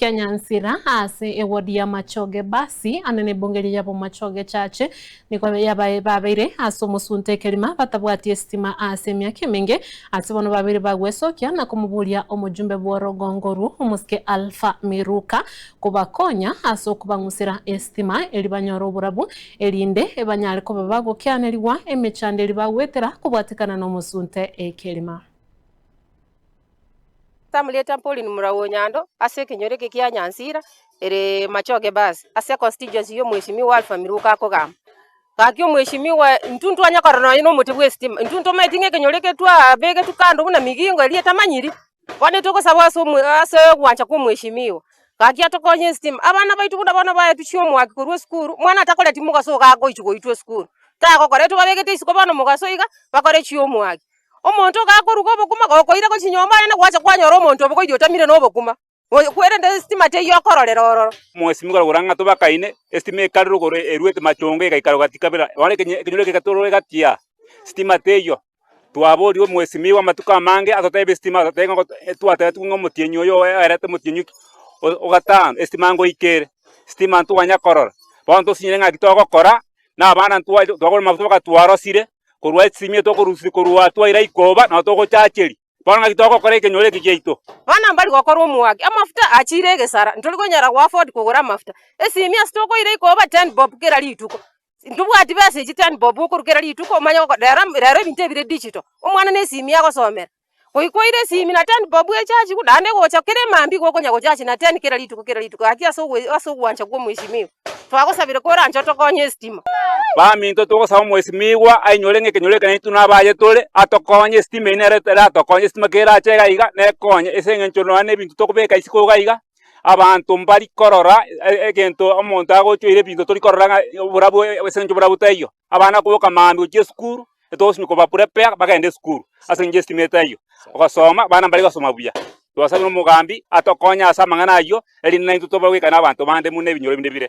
kia nyansira aase ewodi ya machoge basi ande nebongeria yabo machoge chache nigo yabae babeire aase omosunte ekerima batabwati esitima aase emiaka emenge aase bono babeire bagwesokia na komoburia omojumbe bworogongo rwo omosike Alfa Miruka kobakonya aase okobang'usera esitima eri banyore oborabu erinde banyare koba bagokianerigwa emechando eri bagwetera kobwatekana nomosunte ekerima. Tamurieta Pauline Murau Onyando ase ekenyoro eke kia Nyansira ere Machoge Bus ase constituency ya omheshimiwa Alpha Miruko akogamba gaki omheshimiwa intwe ntwanya korora nonya na omote bwa estima intwe ntomaeti ng'a ekenyoro eke twabegetwe kando buna migingo eria etamanyiri bono etogosaba ase ase ogwancha kwa omheshimiwa gaki atokonye estima abana baito buna bono baetusia omwaki korwa esukuru omwana atakoreti mogaso iga agochi goitwa esukuru tagokora etwe babegete isiko bono mogaso iga bakore chiomwaki. Omonto ogakoruga obokima gokoira gochia nyomba yane gwacha kwanyora omonto obogoidi otamire nobokima. Kwerende esitima teiyo okororera ororo. Mwasimeka korwa ng'a tobakaine, esitima ekarerwa igoro eruete machongo egaikara gati kabere. Bono ekenyoro ekio getorwa egati aa, sitima teiyo. Twaboria omwesimei bw'amatuko amange atotebie esitima atotebie ng'a twatebetigwe ng'a omotienyi oyo oerete omotienyi o gatano esitima ngoika ere. Sitima ntoganya korora. Bono ntosinyire ng'a eki togokora na abana ntwa twagora mafuta bakatwarosire korwa esimie tokorusia korwa twaira ikoba na togochacheria. Bono ng'aki togokora ekenyoro eke giaito? Bono mbari gokora omwake. Amafuta achiire egesara. Ntori konyara goafford kogora amafuta. Esimie ase tokoira ikoba ten bob kera rituko. Ntobwati besa echi ten bob okorwa kera rituko omanye rero ebinto ebire digital. Omwana na esimie agosomera. Goikoire esimi na ten bob echachi igo naende gocha kere mambia igo okonya gochachi na ten kera rituko kera rituko gaki ase ogo ase ogwancha kwa omwesimiwa. Twagosabire kore anche otokonye estima. Baminto togosaba omwesimigwa ainyore ng'a ekenyoro ekenene intwe nabo aye tore, atokonye estima eyio nere eratokonye estima ekero erache iga iga nekonye ase eng'encho nonya na ebinto tokobeka isiko iga iga, abanto mbari korora egento omonto agochoire ebinto tori korora ng'a oborabu ase eng'encho oborabu taiyo. abana koboka maambia gochia esukuru, etogosimi koba prepare bagende esukuru ase engencho y'esitimato eyio. Ogosoma, abana mbare gosoma buya. Twasabire omogambi atokonye ase amang'ana ayio, erinde naintwe tobe goika na abanto bande buna ebinyoro binde bire.